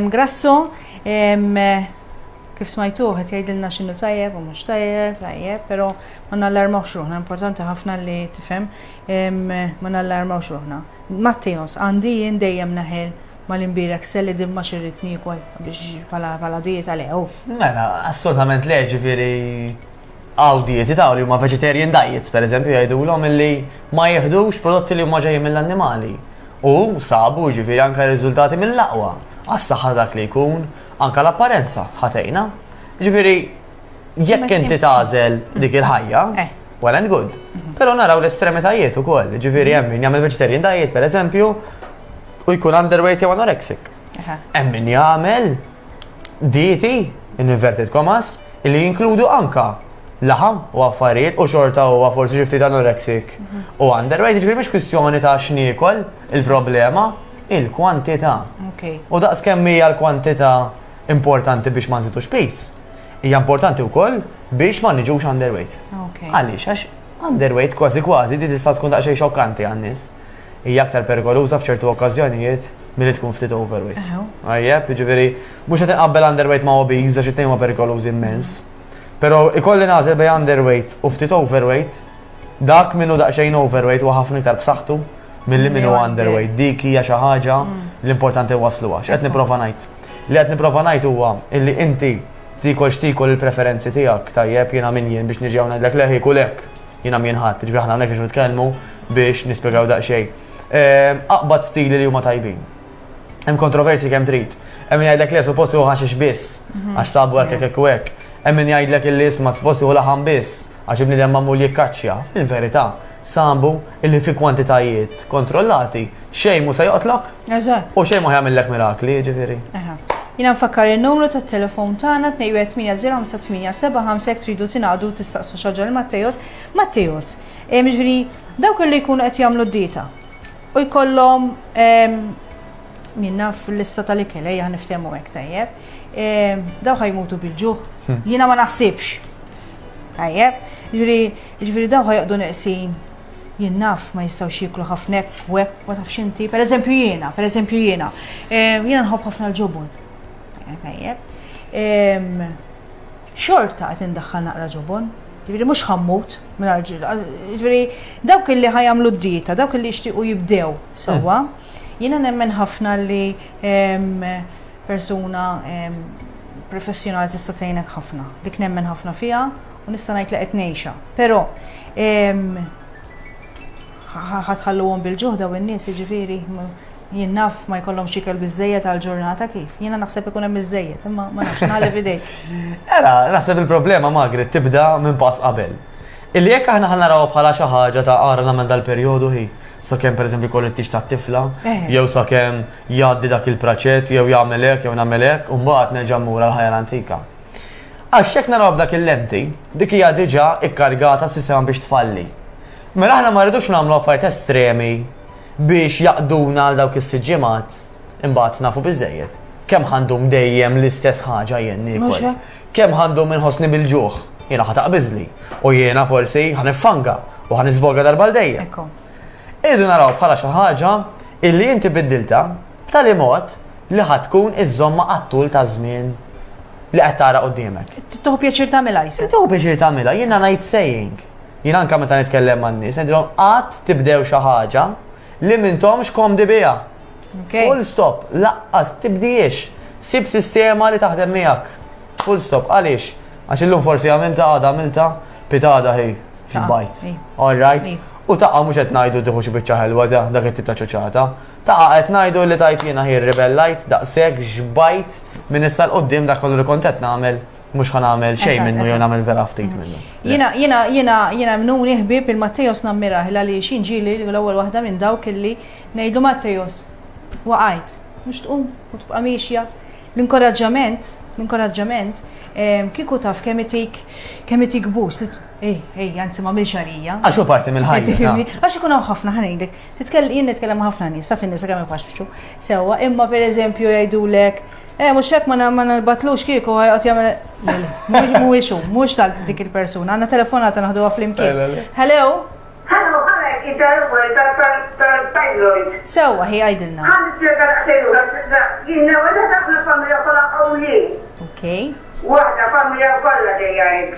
Grasso, kif smajtuh qed jgħidilna x'inhu tajjeb u mhux tajjeb, tajjeb, però ma nallarmawx ruħna, importanti ħafna li tifhem ma nallarmawx ruħna. Matteos, għandi jien dejjem naħel mal-imbierek selli din ma xirrid niekol biex bħala dieta le, hu. Mela, assolutament le, ġifieri. Hawn dieti ta' li huma vegetarian diets, pereżempju, jgħidulhom illi ma jieħdux prodotti li huma ġejjin mill-annimali. U sabu, jiġifieri, anke riżultati mill-aqwa għas-saħħa ta' dak li jkun, anke l-apparenza ħa tgħinha. Jiġifieri, jekk inti tagħżel dik il-ħajja, eh. well and good. Mhm. Però naraw l-estremitajiet ukoll, jiġifieri hemm min jagħmel vegetarian diet, pereżempju, u jkun underweight jew anorexic. Hemm min jagħmel dieti, in inverted commas, li jinkludu anka laħam u affarijiet u xorta u forsi xi ftit anoreksik u underweight, ġifieri mhix kwistjoni ta' x'niekol il-problema, il-kwantità. U daqs kemm hija l-kwantità importanti biex ma nżidux pis, hija importanti wkoll biex ma niġux underweight. Għaliex għax underweight kważi kważi di tista' tkun daqsxejn xokkanti għan-nies. hija aktar perikoluża f'ċertu okkażjonijiet milli tkun ftit overweight. Għajjeb, jiġifieri mhux qed inqabbel underweight ma' obese għax it-tnejn huma perikolużi immens. Però ikolli nagħżel bej underweight u ftit overweight, dak minnu daqsxejn overweight huwa ħafna iktar b'saħħtu milli minnu underweight. Dik hija xi ħaġa mm. l-importanti wasluha. X'qed nipprova ngħid? Li qed nipprova ngħid huwa illi inti tikol x'tikol il-preferenzi tiegħek tajjeb jiena min jien biex niġi hawn ngħidlek leħi kulek. Jiena mien ħadd, ġifieri aħna hawnhekk biex nitkellmu biex nispjegaw daqsxejn. Ehm, aqbad stili li huma tajbin. Hemm kontroversi kemm trid. Hemm jgħidlek li suppost hu ħaxix biss, mhm. għax sabu hekk hekk hekk. Hemm min jgħidlek illi isma' suppost hu laħam biss, għax ibnidem ma' mulji kaċċja. Fil-verità, sambu illi fi kwantitajiet kontrollati xejn mu se joqtlok Eżatt. U xejn ma jagħmillek mirakli, jiġifieri. Jina nfakkar il-numru ta' telefon tagħna 2180875 tridu tingħadu tistaqsu xaġa l Mattejos. Mattejos, eh, ġifieri dawk li jkunu qed jagħmlu d-dieta u jkollhom ehm, minna fil-lista tal-ikel ejja niftehmu hekk tajjeb. Ehm, daw ħajmutu bil-ġuħ. Hmm. Jiena ma naħsibx. Tajjeb, ġifieri daw ħajqdu neqsin Jien naf ma jistgħux jieklu ħafna hekk u hekk ma tafx inti. Pereżempju jiena, pereżempju jiena. Ehm, jiena nħobb ħafna l-ġobon. Eh, tajjeb. Ehm, xorta qed indaħħal naqra ġobon. Ġifieri mhux ħammut minn ġil. Ġifieri dawk li ħajamlu d-dieta, dawk li jixtiequ jibdew sewwa. Jiena nemmen ħafna li ehm, persuna professjonali tista' tgħinek ħafna. Dik nemmen ħafna fiha u nista' ngħid li qed ngħixha. Però ħatħalluhom bil-ġuħda u n-nies jiġifieri jien naf ma jkollhom xikel biżejjed għal ġurnata kif. Jiena naħseb ikun hemm biżejjed, imma ma nafx nagħleb idejk. Era, naħseb il-problema Magri tibda minn pass qabel. Illi jekk aħna ħan naraw bħala xi ħaġa ta' ara nagħmel dal-perjodu hi sakemm pereżempju jkollu t-tix tat-tifla, eh. jew sakemm jgħaddi dak il-praċett, jew jagħmel hekk, jew nagħmel hekk, u mbagħad nerġa' mmur għal ħajja l-antika. Għax jekk naraw f'dak il-lenti, dik hija diġà ikkargata s-sistema biex tfalli. Mela aħna ma rridux nagħmlu affarijiet estremi biex jaqduna għal dawk is-siġġimat imbagħad nafu biżejjed. Kemm għandhom dejjem l-istess ħaġa jenni. Kemm għandhom inħossni bil-ġuħ, jiena ħataq biżli u jiena forsi ħanifanga u ħan iżvolga darba l-dejja. Idu naraw bħala xi ħaġa illi inti biddilta B'tali mod li ħa tkun iżżommha għat-tul ta' żmien li qed tara quddiemek. Tieħu pjaċir tagħmilha jisek. Tieħu pjaċir tagħmilha, jiena ngħid saying. Jien anke meta nitkellem man-nies, ngħidilhom qatt tibdew xi ħaġa li m'intomx komdi biha. Full stop, laqqas tibdiex. Sib sistema li taħdem miegħek. Full stop, għaliex? Għax illum forsi għamilta għada għamilta pitada hi bajt. All right? U taqqa mhux qed ngħidu tieħu xi biċċa ħelwa dak it-tip ta' ċoċata. Taqa' qed ngħidu li tajt jiena hi rribellajt daqshekk xbajt minn issa 'l quddiem dak kollu li kont qed nagħmel mhux ħa nagħmel xejn minnu jew nagħmel vera ftit minnu. Jiena jiena jiena jiena mnuni ħbieb il-Mattejos nammirah il għaliex jien ġieli l-ewwel waħda minn dawk illi ngħidlu Mattejos waqajt mhux tqum u tibqa' miexja. L-inkoraġġament l-inkoraġġament ehm, kieku taf kemm itik kemm itik bus Ej, ej, anzi ma milx għalija. Għax hu parti mill-ħajja. Għax ikun hawn ħafna ħanejlek. Titkell, jien nitkellem ma' ħafna nies, taf in-nisa kemm ifaxxu. Sewwa, imma pereżempju jgħidulek, eh mhux hekk ma na- ma nalbatlux kieku ħajqgħod jagħmel. Le, le, mhux- Mhuwiex hu, mhux tal dik il-persuna. Għandna telefonata naħduha Le, le, flimkien. le. Hello? Ħallu ħalek jidarwel tal-thyroid. Sewwa, hi għidilna. Ħalli t-tjega daqsejn u għazza. Jien newa da ħafna familja kolla qawli. Okay. Waħda familja kolla dejja hekk.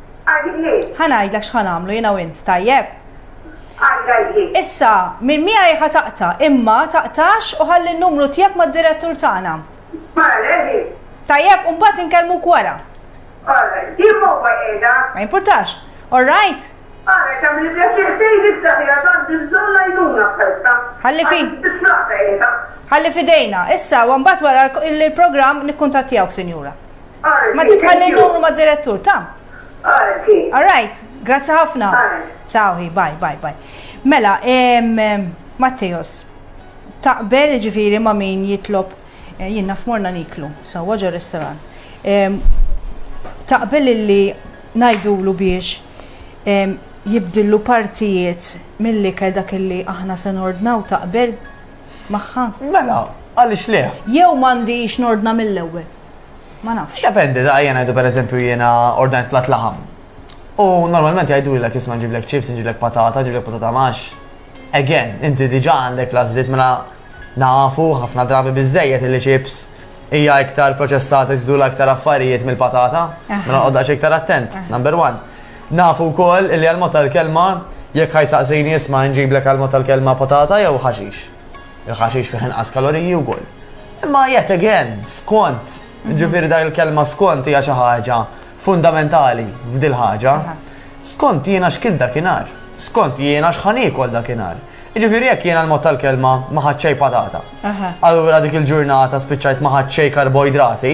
Għadik li? Ħa ngħidlek x'ħa nagħmlu jiena u int, tajjeb? Għadik għadik li? Issa, minn miegħi ħa taqta, imma taqtax u ħalli n-numru tiegħek mad-direttur tagħna. Mara, ready? Tajjeb, u mbagħad inkellmuk wara. Alright, din mobba qiegħda. Ma jimpurtax. All right? Għara, kam li bjaċir fejn istaħi għadan dizzalla jnuna festa. Għalli fi. Għalli fidejna. Issa, għambat wara il-program nikkuntattijawk, sinjura. Ma di tħalli numru ma direttur, ta? All right, grazzi ħafna. Ciao, bye, bye, bye. Mela, Matteos, taqbel ġifiri ma min jitlob, eh, jien naf morna niklu, sa waġa restoran. Taqbel li najdulu biex jibdillu partijiet mill-li dak li aħna se nordnaw taqbel magħha. Mela, għaliex le? Jew m'għandix nordna mill-ewwel. Ma nafx. Dependi, da jena jdu per eżempju jena ordnajt plat laħam. U normalment jgħidu l-ek jisma nġiblek chips, nġiblek patata, nġiblek patata max. Again, inti diġa għandek lażlit mela nafu ħafna drabi bizzejet li chips hija iktar proċessata iżdula iktar affarijiet mill-patata, mela għodda iktar attent, number one. Nafu wkoll li għal-mod tal-kelma jekk ħajsaqsini isma' nġiblek għal-mod tal-kelma patata jew ħaxix. Il-ħaxix fih inqas kaloriji wkoll. Imma yet again, skont, ġifieri dak il-kelma skont hija xi ħaġa fundamentali f'dil ħaġa. Skont jiena x'kil dakinhar, skont jiena x'ħan ikol dakinhar. Ġifiri jekk jiena l-mod tal-kelma ma patata. Allura dik il-ġurnata spiċċajt ma karboidrati. karboidrati,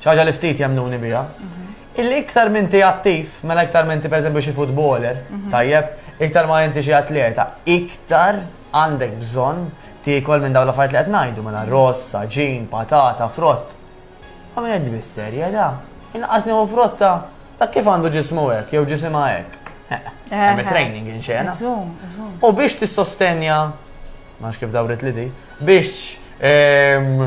ċaġa li ftit jemnuni bija. Mhm. Illi iktar minn ti attiv, mela iktar minn ti per eżempju xi futboler, mhm. tajjeb, iktar ma inti xi atleta, iktar għandek bżonn tiekol minn dawn l-affarijiet li qed ngħidu mela mhm. ross, saġin, patata, frott. Għamil qed bis-serja da. Inqas nieħu frotta, ta' kif għandu ġismu hekk jew ġisimha hekk. Hemm training inxena. U biex tissostenja, ma kif dawret li di, biex ehm,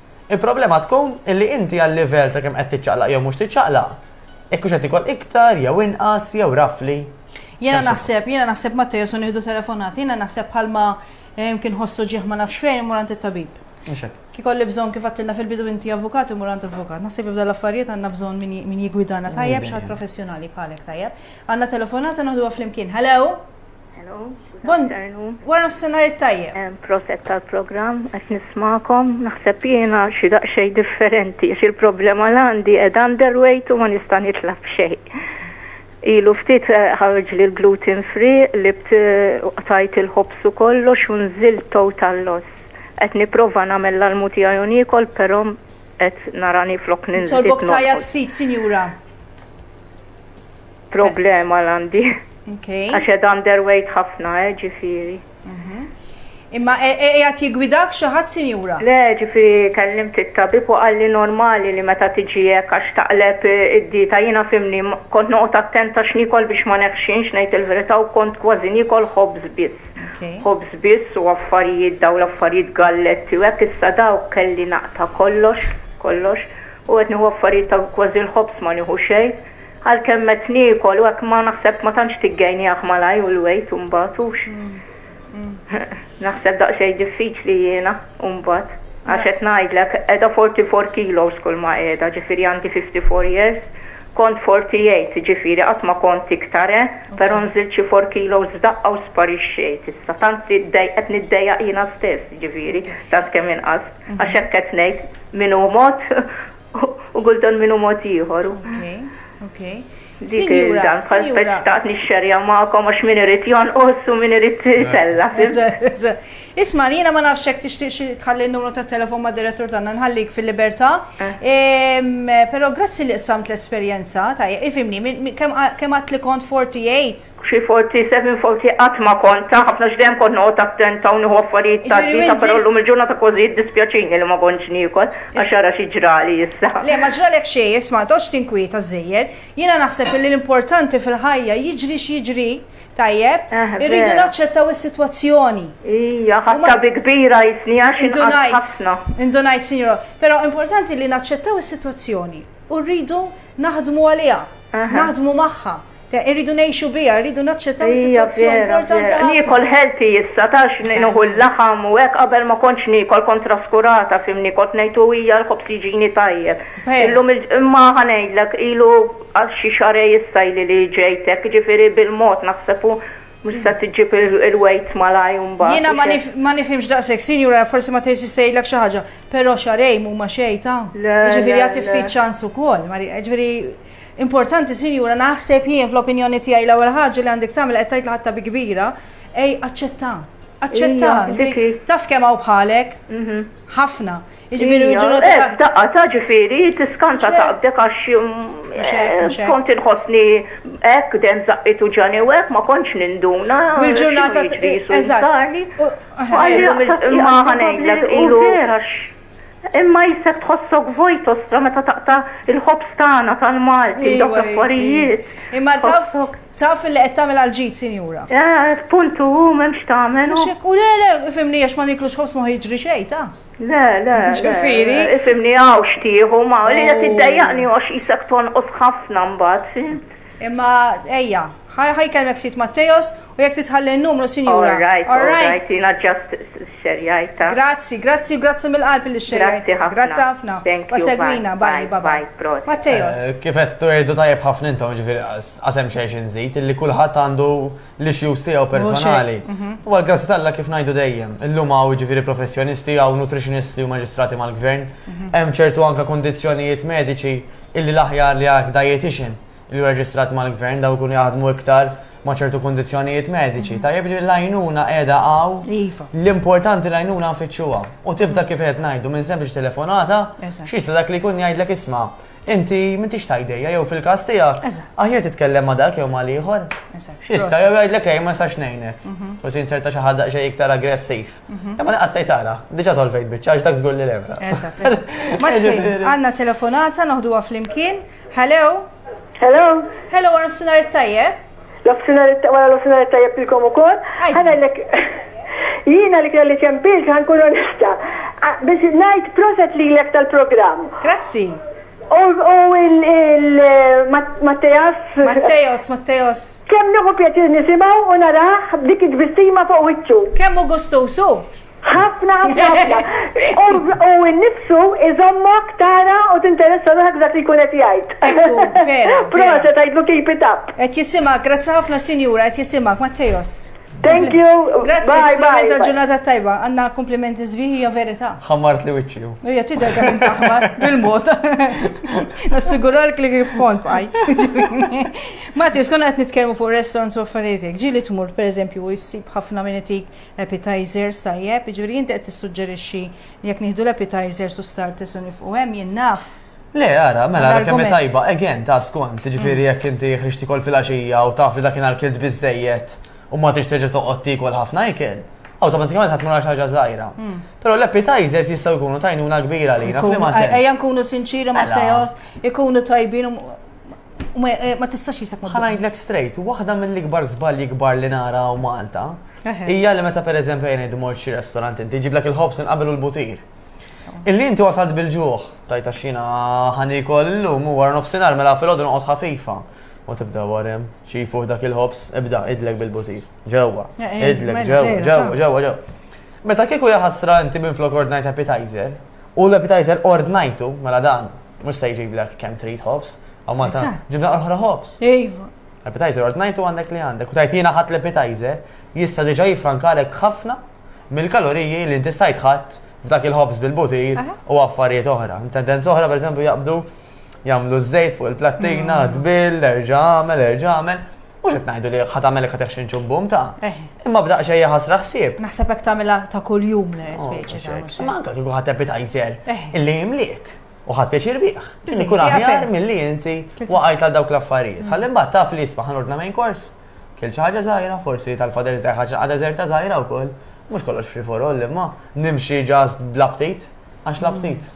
Il-problema tkun illi inti għal-livell ta' kemm qed tiċċaqlaq jew mhux tiċċaqlaq, jekk hux qed ikol iktar jew inqas jew rafli. Jiena naħseb, jiena naħseb ma tejesu nieħdu telefonat, jiena naħseb bħalma eh, kien ħossu ġieħ ma nafx fejn imur għand it-tabib. Kikolli bżon kif għattilna fil-bidu inti avukat imur għand avukat. Naħseb jibda l-affarijiet għanna bżon min jigwidana tajjeb xaħat professjonali bħalek tajjeb. Għanna telefonata naħdu għaflimkien. Hello? Hello, Wara nofsinhar it-tajjeb. Proset tal-programm, qed nismakom, naħseb jiena xi daqsxejn differenti, xi l-problema l għandi qed underweight u ma nista' nitla' b'xejn. Ilu ftit eh, ħarġ li l-gluten free li tajt il-ħobs u kollox u nżilt total loss. Qed nipprova nagħmel l-almu tiegħi u niekol, però qed narani flok ninżil. Tolbok tajjat ftit, sinjura. problema l-għandi. Għax ed underweight ħafna, eh, ġifiri. Mhm. Imma e, e, e, għat jigwidak xaħat sinjura? Le, ġifi kellim t-tabib u għalli normali li meta tiġijek għax taqleb id-dita jina fimni kont noqt attenta xnikol biex ma neħxinx nejt il-verita u kont kważi nikol ħobz bis. Ħobz bis u affarijiet daw l-affarijiet galletti u għek issa daw kelli naqta kollox, kollox u għetni u affarijiet ta' kważi l-ħobz ma niħu xejn Għalkemm qed niekol u hekk ma naħseb ma tantx tiggejnieh malajr u l-wejt imbagħad hux. Naħseb daqsxejn diffiċli jiena imbagħad. Għax qed ngħidlek qiegħda 44 kilos kull ma qiegħda, ġifieri għandi 54 years, kont 48 ġifieri qatt ma kont iktar eh, però nżilt xi 4 kilos f'daqqa u sparixxejt issa. Tant qed niddejjaq jiena stess ġifieri tant kemm inqast. Għax hekk qed ngħid min hu mod U kultant minnu mod ieħor. Okej, okej. Dik il-dan, bħal speċtaqt nixxerja ma'kom għax min irid jonqos u min irid tella. Isma, jiena ma nafx hekk tixtieq tħalli n-numru ta' telefon ma' direttur tagħna nħallik fil-libertà. Eh. Però grazzi li qsamt l-esperjenza ta' ifimni, kemm għad li kont 48? Xi forzi, seven forzi qatt ma kont ta' ħafna għax dejjem kont noqgħod attenta u nieħu affarijiet ta' dieta però llum il-ġurnata kważi jiddispjaċini li ma kontx niekol għax ara xi ġrali issa. Le ma ġralek xejn, isma' ma toqgħodx tinkwieta żżejjed. Jiena naħseb illi l-importanti fil-ħajja jiġri x'jiġri, tajjeb, irridu naċċettaw is-sitwazzjoni. Ija, ħadtha bi kbira jisni għax inqatt ħafna. Indunajt, sinjura. Però importanti li naċċettaw is-sitwazzjoni u rridu naħdmu għaliha, naħdmu magħha. Ta' irridu ngħixu biha, irridu naċċettaw is-sitwazzjoni importanti ħafna. Niekol healthy issa tax nieħu l-laħam u hekk qabel ma kontx niekol kont traskurata fimni kont ngħid u hija l-ħobż jiġini tajjeb. Illum imma ħa ngħidlek ilu għal xi xarej issa ili li ġejt hekk jiġifieri bil-mod naħseb u mhux se tiġġib il-weight malaj u mbagħad. Jiena ma nifhimx daqshekk, sinjura forsi ma tgħidx jistejlek xi ħaġa, però xarej mhuma xejn ta'. Jiġifieri għad tiftit ċans ukoll, jiġifieri Importanti sinjura naħseb jien fl-opinjoni tiegħi l-ewwel ħaġa li għandek tagħmel qed tgħid l-ħatta bi kbira, ej aċċetta. Aċċetta. Taf kemm hawn bħalek? Mhm. Ħafna. Jiġifieri eh, Daqqa ta' ġifieri tiskanta taqbdek għax eh, kont inħossni hekk dem zaqqitu ġani u hekk ma kontx ninduna. Il-ġurnata eżatt. Ma ħanejlek ilu Imma jisek tħossok vojt ostra meta taqta il-ħobs tagħna tal-Malti, dawk l-affarijiet. Imma taf taf li qed tagħmel għal ġid, sinjura. Eh, puntu hu m'hemmx tagħmel. Mhux hekk u le le, ifimni għax ma niklux ħobs ma jiġri xejn ta. Le, le. Ġifieri. Ifimni hawn xtieħu ma li qed iddejjaqni għax isek tonqos ħafna mbagħad, fimt? Imma ejja, ħa ħa jkellmek ftit Mattejos u jekk titħalli n-numru sinjura. All right, all right, jiena ġast xerjajt ta. Grazzi, grazzi u grazzi mill-qalb li xerjajt. Grazzi ħafna. Grazzi ħafna. Thank you. Segwina, bye, bye, bye, bye. Mattejos. Kif qed tu tajjeb ħafna intom ġifieri qasem xejn xi nżid illi kulħadd għandu l-issues tiegħu personali. Mhm. U għal grazzi tal kif ngħidu dejjem, illum hawn ġifieri professjonisti hawn nutritionist u maġistrati mal-gvern, mhm. hemm ċertu anka kondizzjonijiet mediċi illi l-aħjar li għak dietitian li reġistrat mal-gvern daw kun jaħdmu iktar ma' ċertu kondizjonijiet mediċi. Mhm. Tajjeb li l-għajnuna edha għaw. Iva. L-importanti l-għajnuna nfittxuha. U tibda kif qed ngħidu minn sempliċi telefonata, xista dak li kun jgħidlek isma' Inti m'intix ta' idejja jew fil-każ tiegħek. Eżatt. Aħjar titkellem ma' dak jew ma' l-ieħor. Eżatt. X'jista' jew jgħidlek ej ma nistax ngħinek. Forsi inserta xi ħadd daqsxejn iktar aggressiv. Imma lanqas tgħid ara, diġà solvejt biċċa għax dak żgur li levra. Eżatt, eżatt. Martin, għandna telefonata noħduha flimkien. Hello? Hello? Hello, wara nofsinhar it-tajjeb. L-offsinar wara l-offsinar tajjeb lilkom ukoll. Ħa ngħidlek jiena li kelli ċempilt ħankun onesta. Biex ngħid proset lilek tal-programm. Grazzi. U il-Mattejas. Mattejas, Mattejas. Kemm nieħu pjaċir nisimgħu u naraħ dik id-bistima fuq wiċċu. Kemm u gustusu. ħafna, ħafna, ħafna. U n-nifsu iżommok tara u t-interessa ruħak dak li kunet jgħid. Prosa tajdlu keep it up. Et jisima, grazzi ħafna sinjura, et jisima, Mattejos. Thank you. Grazzi, komplimenti għal ġurnata tajba. Għanna komplimenti zbiħi hija verita. Ħammart li wiċċi. Hija tidher kemm taħmar bil-mod. Nassiguralk li kif kont bħaj. Matti, skonna qed nitkellmu fuq restaurants u affarijiet. Ġieli tmur pereżempju u jsib ħafna minn itik Appetizers, tajjeb, jiġifieri inti qed tissuġġerixxi li jekk nieħdu l-appetizers u starters u nifqu hemm jien naf. Le, ara, mela ara kemm tajba, again, ta' skont, ġifieri jekk inti ħriġti kol fil-għaxija u taf li dak inhar kilt biżejjed u ma tix terġa' toqgħod tiekol ħafna ikel automatikament ħadd mara ħaġa żgħira. Hmm. Però l-appetizers jistgħu jkunu tajnuna kbira li. Ejja nkunu sinċiri Matteos, ikunu tajbin Ma tistax jisek ma. Ħanajdlek straight, waħda mill-ikbar żbalji kbar li nara u Malta, hija li meta pereżempju jien idmor xi restorant inti ġiblek il-ħobs inqabel u l-butir. Illi inti wasalt bil-ġuħ, tajta xina ħanikol illum u war nofsinhar mela fil-għodu noqgħod ħafifa. U tibda warem, xifu dak il-ħobs, ibda idlek bil-butir. Ġewwa, idlek ġewwa, ġewwa, ġewwa, ġewwa. Meta kieku jaħasra inti minn flok ordnajt appetizer, U l-appetizer ordnajtu, mela dan, mux se jġiblek kem trid ħobs, għaw Malta, Eżatt. ġibna oħra ħobs. Iva. Appetizer ordnajtu għandek li għandek. U tajtina ħadd l-appetizer, jista diġa jifrankalek ħafna mill-kaloriji li inti stajt ħadd f'dak il-ħobs bil-butir Aha. u affarijiet oħra. Tendenza oħra, per eżempju, jaqbdu Jamlu z-zejt fuq il-plattina, mm. tbil, erġa' għamel, erġa' għamel. Mux qed ngħidu li ħat għamel ħat eħxin ċubbum ta' eh. imma b'daq xejja ħasra ħsieb. Naħseb hekk tagħmilha ta' kuljum le oh, speċi ta' Imma anke kieku ħadd appetizer eh. illi jimliek u ħadd pjaċir bih. Tisni kun aħjar milli inti waqajt għal dawk l-affarijiet. Mm. Ħalli mbagħad taf li jisma' ħanordna main kors. Kiel xi ħaġa żgħira, forsi tal-fader żgħir ħaġa għadha żgħirta żgħira wkoll. Mhux kollox free for all imma nimxi ġast bl-aptit għax l-aptit.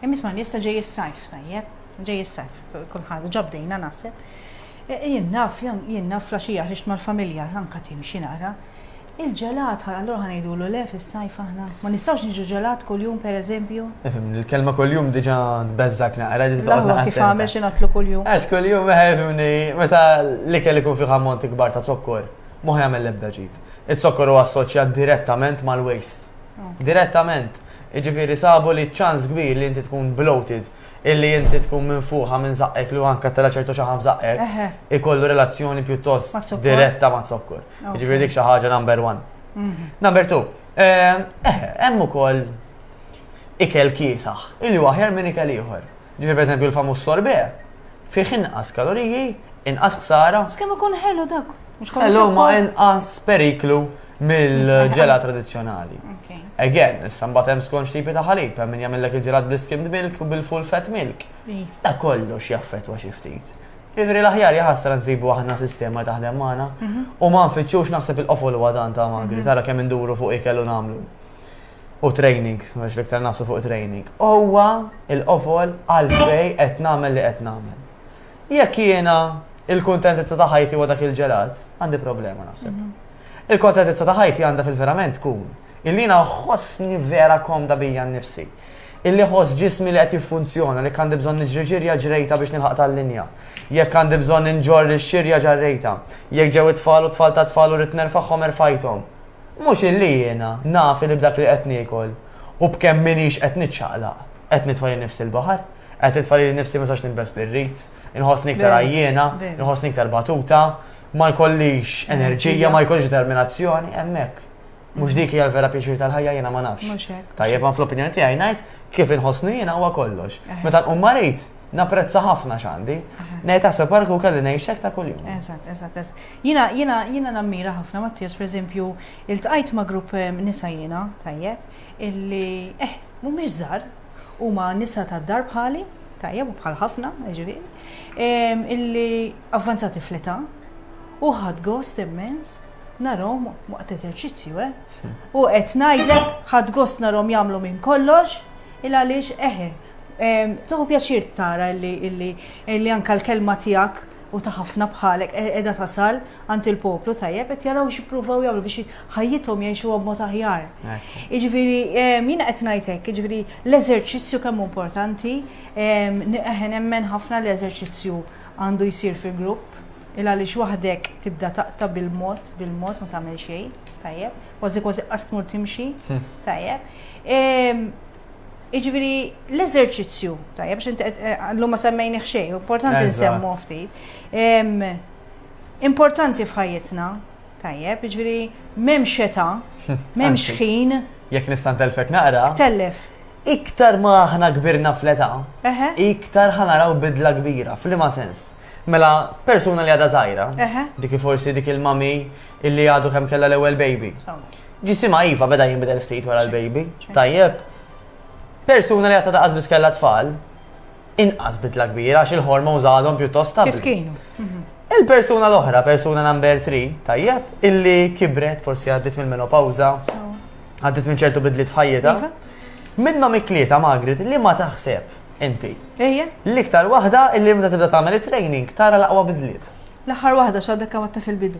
Imma isma' issa ġej is-sajf tajjeb, ġej is-sajf, kulħadd ġabdejna naħseb. E, e, jien naf, jien naf flaxija ħriġt mal-familja anka timxi nara. Il-ġelat, allura ħanejdulu le fis-sajf aħna. Ma nistgħux niġu ġelat kuljum pereżempju. Ifhem, il-kelma kuljum diġà tbeżżak naqra li taqgħod kif għamel xi natlu kuljum. Għax kuljum ifhimni eh, meta l-ikel ikun fih ammont ikbar ta' zokkor, mhux jagħmel l-ebda ġid. Iz-zokkor huwa assoċjat direttament mal-waste. Direttament. Jiġifieri sabu li ċ-ċans kbir li inti tkun bloated, illi inti tkun minfuħa minn żaqqek li anke tela' ċertu xaħam f'żaqqek, ikollu relazzjoni pjuttost diretta maz-zokkor. Jiġifieri dik xi ħaġa number one. Number two, hemm ukoll ikel kiesaħ, illi hu aħjar minn ikel ieħor. Ġifieri pereżempju l-famuż sorbet, fih inqas kaloriji, inqas ħsara. Kemm ikun ħelu dak? Mhux kollu. Ħelu ma inqas periklu mill-ġela tradizzjonali. Again, issa mbagħad hemm skont x'tipi ta' ħalib, hemm min jagħmellek il-ġelat bl-skimmed milk u bil-full fat milk. Ta' kollox jaffettwa xi ftit. Ivri l-aħjar jaħasra nsibu aħna sistema taħdem magħna mhm. u ma nfittxux naħseb il-qofol huwa dan ta' magri, mhm. tara kemm induru fuq ikel u nagħmlu. U training, għax l-iktar nafsu fuq training. Huwa il-qofol għalfej qed nagħmel li qed nagħmel. Jekk jiena il-kuntentizza ta' ħajti huwa dak il-ġelat, għandi problema naħseb. Mhm. Il-kontentizza ta' ħajti għandha fil-verament tkun illi ħossni vera komda bija nnifsi. Illi ħoss ġismi li qed jiffunzjona li għandi bżonn niġri ġirja ġrejta biex nilħaq tal-linja. Jekk għandi bżonn inġor ix-xirja ġarrejta. Jekk ġew it-tfal u tfal ta' tfal u rrid nerfagħhom erfajthom. Mhux illi jiena naf li b'dak li qed niekol u b'kemm minix qed niċċaqlaq qed nitfa' nifsi l-baħar. Qed nitfa' lili nnifsi ma sax nilbes li rrid, inħossni iktar għajjiena, inħossni iktar batuta, ma jkollix enerġija, ma jkollix determinazzjoni, hemmhekk. Mhux dik hija l-vera pjaċir tal-ħajja jiena ma nafx. Tajjeb ma fl-opinjoni tiegħi ngħid kif inħossni jiena huwa kollox. Meta nqum marit, napprezza ħafna x'għandi. Ngħid taħseb parku kelli ngħixek ta' kuljum. Eżatt, eżatt, eżatt. Jiena jiena jiena nammira ħafna Mattias, pereżempju, iltqajt ma' grupp eh, nisa jiena, tajjeb, illi eh, mhumiex żgħar, Huma nisa tad-dar bħali, tajjeb u bħal ħafna, ġifieri, ehm, illi avvanzati fl-età u ħadd gost immens narhom waqt eżerċizzju, eh? Hmm. U qed ngħidlek ħadd gost narhom jagħmlu minn kollox, il għaliex eħe, ehm, toħu pjaċir tara illi anka l-kelma tiegħek u ta' ħafna bħalek qiegħda tasal għand il-poplu tajjeb qed jaraw x'ippruvaw jagħmlu biex ħajjithom jgħixuha b'mod aħjar. Jiġifieri jiena qed ngħid hekk, jiġifieri l-eżerċizzju kemm importanti, eħen nemmen ħafna l-eżerċizzju għandu jsir fi grupp, il għaliex waħdek tibda taqta bil-mod, bil-mod ma tagħmel xejn, tajjeb, kważi kważi qas tmur timxi, hmm. tajjeb. Jiġifieri l-eżerċizzju, tajjeb biex inti llum ma semmejni xejn, importanti nsemmu ftit. Importanti f'ħajjitna, tajjeb, jiġifieri m'hemm xeta, m'hemm xħin. Jekk nista' ntellfek naqra. Tellef. Iktar ma aħna kbirna fl-età, iktar ħanaraw bidla kbira, fl-ima sens. Mela, persuna li għadha żgħira, dik forsi dik il-mami illi għadu kemm kellha l-ewwel baby. Ġisima iva beda jinbidel ftit wara l-baby, tajjeb. Persuna li għata daqas biss kellha tfal, inqas bidla kbira għax il-hormones għadhom pjuttost stabli. Kif kienu? Mhm. Il-persuna l-oħra, persuna number 3, tajjeb, illi kibret forsi għaddit minn menopawza, għaddit minn ċertu bidlit f'ħajjita. Iva. Minnhom iklieta Margaret li ma taħseb inti. Ejja. L-iktar waħda illi meta tibda tagħmel it-training tara l-aqwa bidliet. L-aħħar waħda x'għadek għamatta fil-bidu.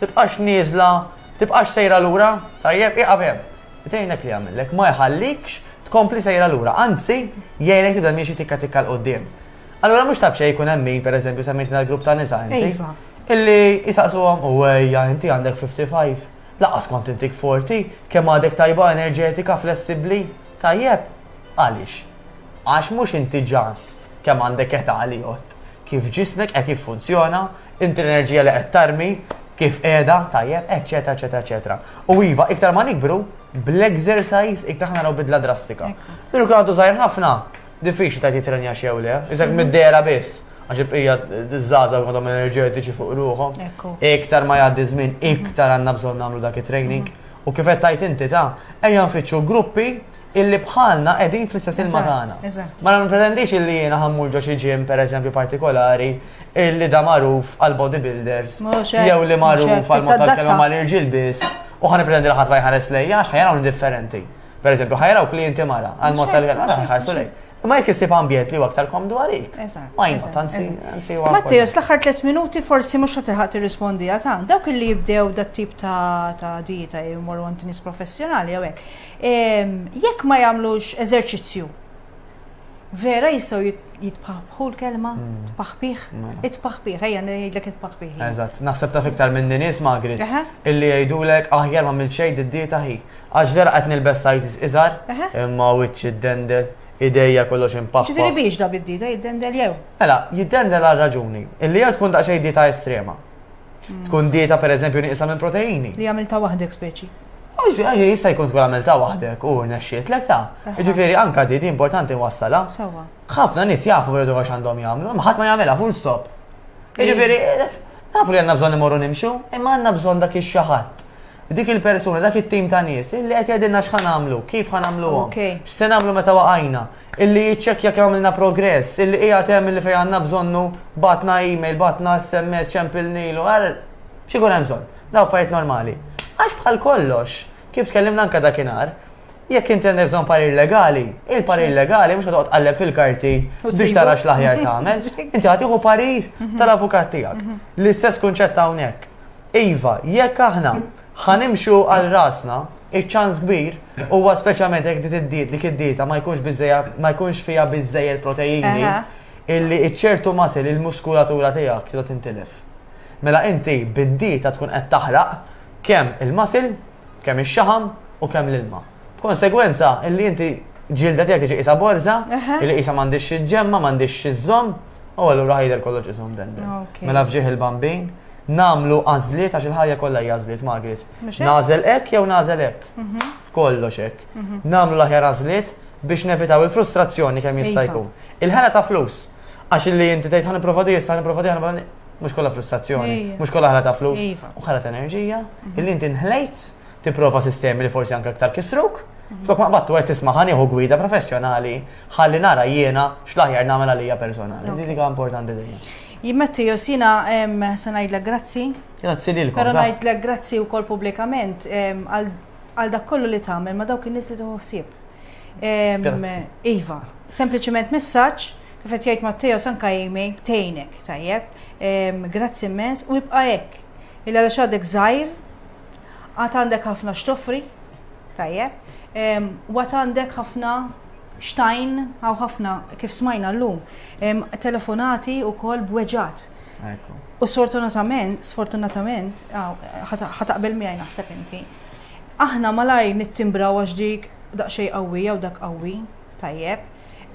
Tibqax nieżla, tibqax sejra lura, tajjeb, ieqaf hemm. Jtgħinek li jagħmillek, ma jħallikx tkompli sejra lura, anzi, jgħinek tibda miexi tikka tikka l qudiem Allura mhux tabxej jkun hemm min, pereżempju, semmejtna l-grupp ta' nisa inti. Iva. Illi jisaqsuhom u ejja inti għandek 55. Laqas kont intik 40, kemm għadek tajba enerġetika, flessibbli, tajjeb. Għaliex? Għax mhux inti ġast kemm għandek età li jott. kif ġismek qed jiffunzjona, inti l-enerġija li qed tarmi, kif qiegħda, tajjeb, eċċetera, eċċetera, eċċetera. U iva, iktar ma nikbru, bl-exercise iktar ħana bidla drastika. Minu kien għadu żgħir ħafna, diffiċli ta' jitrenja xew le, iżek mhm. mid-dera biss għax il-bqija d-żaza għadhom enerġetiċi fuq ruħom. Iktar ma jgħaddi żmien, iktar għandna bżonn nagħmlu dak it-training. U kif qed tajt inti ta' ejja nfittxu gruppi illi bħalna qegħdin fl-istess ilma tagħna. Ma nippretendix illi jiena ħammur ġo xi ġim pereżempju partikolari illi da magħruf għal bodybuilders jew li magħruf għal mod tal-kelma mal-irġiel biss u ħan nippretendi li ħadd ma jħares lejja għax ħajaraw differenti. Pereżempju ħajaraw klijenti mara għal mod tal-kelma ħajħarsu lejja. Ma jek jisib ambjent li aktar komdu għalik. Ma jina, tanzi, tanzi. Mattias, l-axar 3 minuti forsi mux għatilħat t-rispondi għatan. Dawk li jibdew dat tip ta' dieta jimmoru għantinis professjonali għawek. Jekk ma jagħmlux eżerċizzju, vera jistgħu jitpaħbħu l-kelma, hmm. tpaħbih, mela. itpaħbih, ejja ngħidlek itpaħbih. Eżatt, naħseb ta' fiktar minn nies Magrit illi jgħidulek aħjar ma mill xejn id-dieta ħi. Għax vera qed nilbes sajżis iżgħar, imma wiċċ id-dendel, ideja kollox impaħħa. Ġifieri biex da bid-dieta jiddendel jew? Mela, jiddendel għal raġuni, illi jew tkun daqsxejn dieta estrema. Tkun dieta per eżempju nieqsa minn proteini. Li għamilta waħdek speċi. Għaxi, jista jkun tkun għamilta waħdek u nexxiet lek ta' ġifiri anka di di importanti wassala. Sawa. ħafna nis jafu bħedu għax għandhom jgħamlu, maħat ma jgħamela full stop. Ġifiri, nafu li għanna bżon imorru nimxu, imma għanna bżon dak il-xaħat. Dik il-persuna, dak il-tim ta' nis, illi għet jgħadilna xħan għamlu, kif għan għamlu għom. X'se għamlu meta waqajna. illi jiċċekkja kemm għamilna progress, illi qiegħed hemm illi fejn għandna bżonnu bagħatna email, bagħatna SMS, ċempilnilu, għal xi jkun hemm bżonn. Daw fajt normali. Għax bħal kollox, kif tkellimna anke dakinhar, jekk inti għandek bżonn parir legali, il-parir mhm. legali mhux qed tqalleb fil-karti biex tarax l-aħjar tagħmel, inti għad tieħu parir mhm. tal-avukat tiegħek. Mhm. L-istess kunċett hawnhekk. Iva, jekk aħna Ħa nimxu għal rasna, iċ-ċans kbir huwa speċjalment jekk dit id-diet dik id-dieta ma jkunx biżejja ma jkunx fiha biżejjed proteini Aha. illi iċ-ċertu masil il-muskulatura tiegħek trid tintilef. Mela inti bid-dieta tkun qed taħraq kemm il-masil, kemm ix-xaħam u kemm l-ilma. B'konsegwenza, illi inti ġilda tiegħek tiġi qisha borża, illi qisha m'għandix xi ġemma, m'għandix xi żomm, u allura ħajder kollox isom dendel. Mela fġieħ il-bambin, namlu għażliet għax il-ħajja kollha hija għażliet Margaret. Nażel hekk jew nażel hekk. Mhm. F'kollox hekk. Mhm. Namlu l-aħjar għażliet biex nevitaw il-frustrazzjoni kemm jista' jkun. Il-ħela ta' flus. Għax li inti tgħid ħan nipprova di, issa nipprova di, mhux kollha frustrazzjoni, mhux kollha ħela ta' flus, u ħela ta' enerġija, mhm. illi inti nħlejt tipprova sistemi li forsi anke aktar kisruk. Mhm. Flok ma qbattu qed tisma' ħan jieħu gwida professjonali ħalli nara jiena x'laħjar nagħmel għalija personali. Din hija importanti dejjem. Jimmetti josina se ngħidlek grazzi. Grazzi lilkom. Però ngħidlek grazzi wkoll pubblikament għal dak kollu li tagħmel ma dawk in-nies li tuħsib. Iva, sempliċement messaġġ kif qed jgħid Matteo sanka jimi tejnek tajjeb. Grazzi immens u jibqa' hekk. Illa għax għadek żgħir Għad għandek ħafna x'toffri, tajjeb, u għad għandek ħafna xtajn, għaw ħafna kif smajna l-lum, telefonati u kol bweġat. U sfortunatament, sfortunatament, ħataqbel miħaj naħseb inti, aħna malaj nittimbra għax dik daqxej qawwi jew dak qawwi, tajjeb,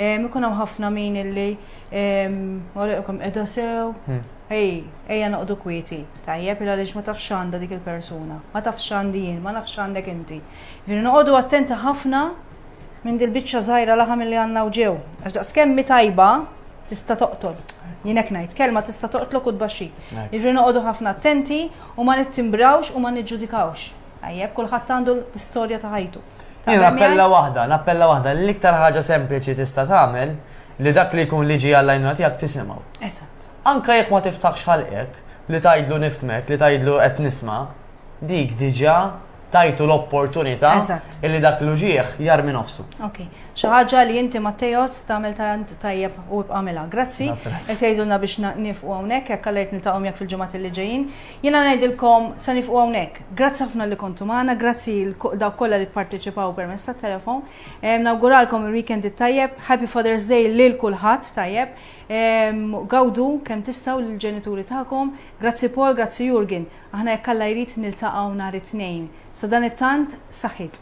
Ikun hawn ħafna min illi għalikom qiegħda sew. Hmm. Ej, ejja noqdu kwieti. Tajjeb il għaliex ma tafx għandha dik il-persuna, ma tafx għandi jien, ma nafx għandek inti. Jiġifieri noqogħdu attenti ħafna minn dil-biċċa żgħira laħam li għandna u ġew. Għax daqs kemmi tajba tista' toqtol. Jien hekk ngħid, kelma tista' toqtlok u tbaxxi. Jiġri noqogħdu ħafna attenti u ma nittimbrawx u ma niġġudikawx. Tajjeb, kulħadd għandu l-istorja ta' ħajtu. Jien appella waħda, nappella waħda, l-iktar ħaġa sempliċi tista' tagħmel li dak li jkun liġi għall-għajnuna tiegħek tisimgħu. Eżatt. Anka jekk ma tiftaħx ħalqek, li tajdlu nifmek, li tajdlu qed nisma, dik diġa tajtu l-opportunità illi dak l-uġieħ jar minn nofsu. Ok, xaħġa li inti Mattejos tamel tant tajjeb u bqamela. Grazzi, qed jgħidulna biex nifqu hawnhekk hekk għalhekk niltaqgħu jekk fil-ġimgħat li ġejjin. Jiena ngħidilkom se nifqu hawnhekk. Grazzi ħafna li kontu magħna, grazzi dawk kollha li pparteċipaw permezz tat-telefon. Ehm, nawguralkom il-weekend it-tajjeb, Happy Father's Day lil kulħadd tajjeb. Ehm, gawdu kemm tistgħu lill-ġenituri tagħkom. Grazzi Paul, grazzi Jurgen. Aħna jekk Alla jrid niltaqgħu nhar it-tnejn. Sa dan it-tant saħħit.